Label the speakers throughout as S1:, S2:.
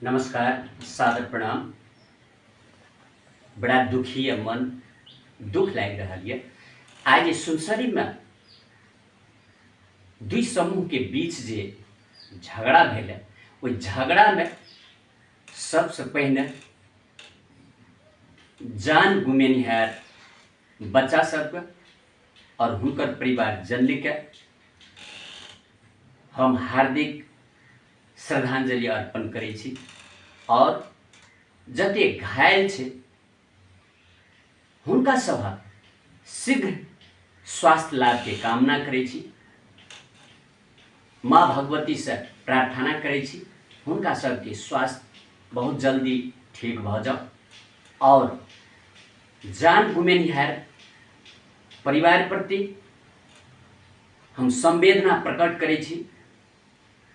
S1: नमस्कार सादर प्रणाम बड़ा दुखी है मन दुख लागि रहल यऽ आइ जे सुनसरीमे दुई समूहके बीच जे झगड़ा भेलै ओहि झगड़ामे सबसँ पहिने जान गुमेनिहार बच्चा सबके और हुनकर परिवार जनली के हम हार्दिक श्रद्धांजलि अर्पण करे छी और जते घायल छे हुनका सभ शीघ्र स्वास्थ्य लाभ के कामना करे छी माँ भगवती से प्रार्थना करै छी हुनका सबके स्वास्थ्य बहुत जल्दी ठीक भऽ जाउ आओर जान गुमेनिहार परिवार प्रति हम संवेदना प्रकट करै छी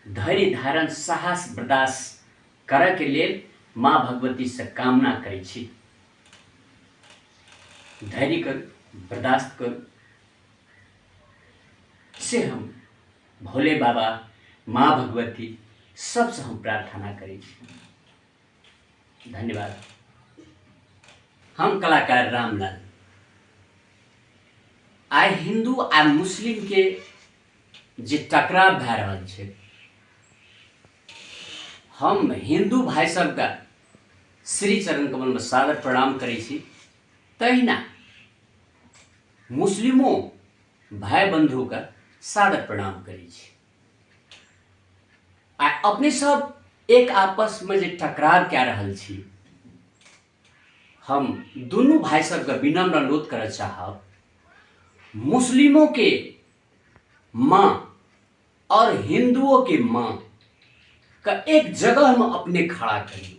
S1: धैर्य धारण साहस बर्दाश्त करय के लेल माँ भगवती से कामना करै छी धैर्य करू बर्दाश्त करू से हम भोले बाबा माँ भगवती सबसँ हम प्रार्थना करै छी धन्यवाद हम कलाकार रामलाल आइ हिंदू आ मुस्लिमके जे टकराव भए रहल छै हम हिंदू भाई सबके श्री चरण कमलमे सादर प्रणाम करै छी तहिना मुस्लिमो भाई बंधु के सादर प्रणाम करी आ अपने सब एक आपस में जो टकराव कए रहल छी हम दुनू भाई सबके विनम्र अनुरोध करय चाहब मुस्लिमों के माँ और हिंदुओं के माँ का एक जगह में अपने खड़ा करी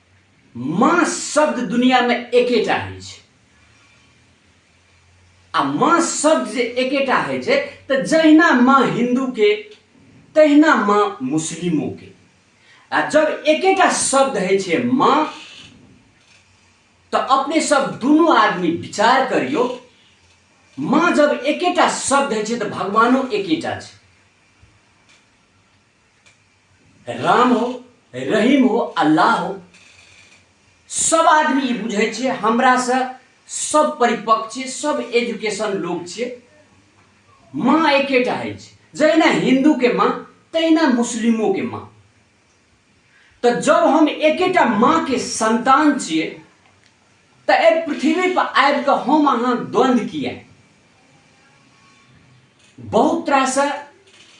S1: माँ शब्द दुनिया में एकेटा है आ माँ शब्द जे एकेटा है तो जहिना माँ हिंदू के तहिना माँ मुस्लिमों के आ जब एकेटा शब्द है माँ तो अपने सब दोनों आदमी विचार करियो माँ जब एकेटा शब्द है तो भगवानों एकेटा है राम हो रहीम हो अल्लाह हो सब आदमी ई बुझै छै हमरासँ सब परिपक्व छै सब एजुकेशन लोग छै माँ एकेटा होइ छै जहिना हिन्दूके माँ तहिना मुस्लिमोके माँ तऽ जब हम एकेटा माँके संतान छियै तऽ एहि पृथ्वी पर आबि कऽ हम अहाँ द्वंद्व किया बहुत तरह से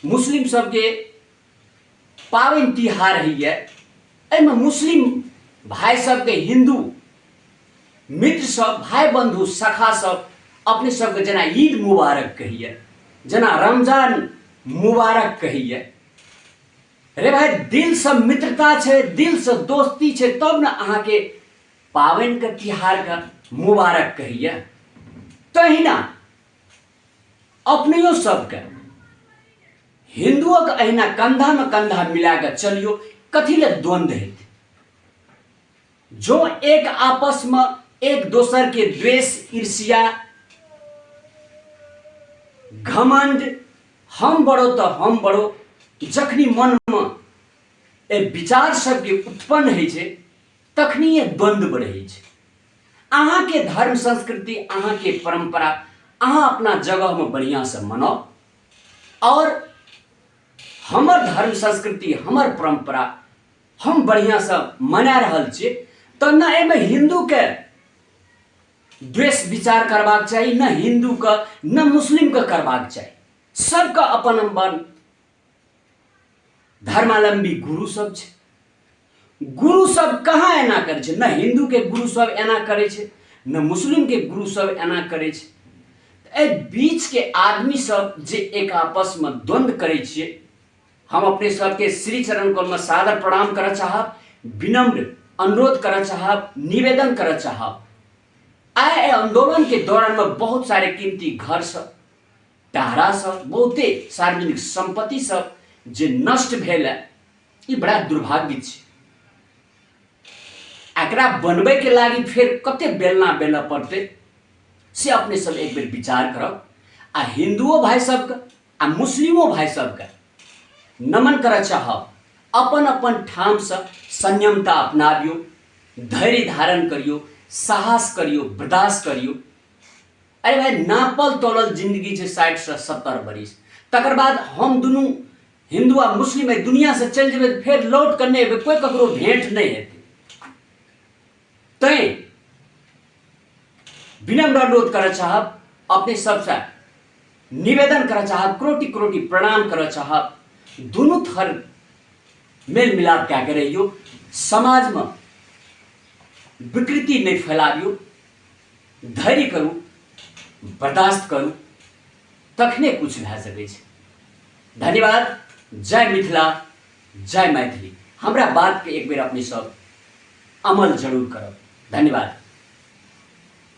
S1: मुस्लिम सबके पाबनि तिहार होइए एहिमे मुस्लिम भाई सबके हिंदू मित्र सब भाई बंधु सखा सब अपने सबके जेना ईद मुबारक कहिए जेना रमजान मुबारक कहिए रे भाई दिल से मित्रता छै दिल से दोस्ती छै तब ने अहाँके पाबनिके तिहारके मुबारक कहैए तहिना अपनेओ सबके हिन्दुओके अहिना कन्धामे कन्धा मिला कऽ चलियौ कथी लए द्वन्द्व हेतै जो एक आपसमे एक दोसरके द्वेष ईर्ष्या घमंड हम बड़ो तो हम बड़ो जखनी मनमे एहि विचार सबके उत्पन्न होइ छै तखनिए द्वंद्व बढ़ै छै अहाँके धर्म संस्कृति अहाँके परंपरा अहाँ अपना जगहमे बढ़िआँसँ मनाउ आओर हमर धर्म संस्कृति हमर परंपरा हम बढ़िआँसँ मना रहल छियै तऽ ने एहिमे हिन्दूके द्वेष विचार करबाक चाही ने हिन्दूके ने मुस्लिमके करबाक चाही सबके अपन अपन धर्मालंबी गुरु सब छै गुरु सब कहाँ एना करै छै नहि हिन्दूके गुरु सब एना करै छै नहि मुस्लिमके गुरु सब एना करै छै तऽ एहि बीचके आदमी सब जे एक आपसमे द्वंद्व करै छियै हम अपने सबके श्री चरण कौलमे सादर प्रणाम करऽ चाहब विनम्र अनुरोध करऽ चाहब निवेदन करऽ चाहब आइ एहि आंदोलनके दौरानमे बहुत सारे कीमती घर सब टारा सब बहुते सार्वजनिक संपत्ति सब जे नष्ट भेल है ई बड़ा दुर्भाग्य छै एकरा बनबैके लागि फेर कते बेलना बेलऽ पड़तै से अपने सब एक बेर विचार करब आ हिंदुओ भाई सबके आ मुस्लिमो भाई सबके नमन करऽ चाहब अपन अपन ठामसँ संयमता अपनाबियौ धैर्य धारण करियौ साहस करियौ बर्दाश्त करियौ अरे भाई नापल तोलल जिंदगी छै साठि से सत्तर बरिस तकर बाद हम दुनू हिंदू आ मुस्लिम एहि दुनिया से चलि जेबै फेर लौट कऽ नहि एबै कोई ककरो भेंट नहि हेतै तैं विनम्र अनुरोध करय चाहब अपने सबसे निवेदन करय चाहब क्रोटी क्रोटी प्रणाम करय चाहब दुनू थर मेल मिलाप कए के रहियो समाजमे विकृति नहि फैलाबियो धैर्य करू बर्दाश्त करू तखने किछु भए सकै छै धन्यवाद जय मिथिला जय मैथिली हमरा बातके एक बेर अपने सब अमल जरूर करब धन्यवाद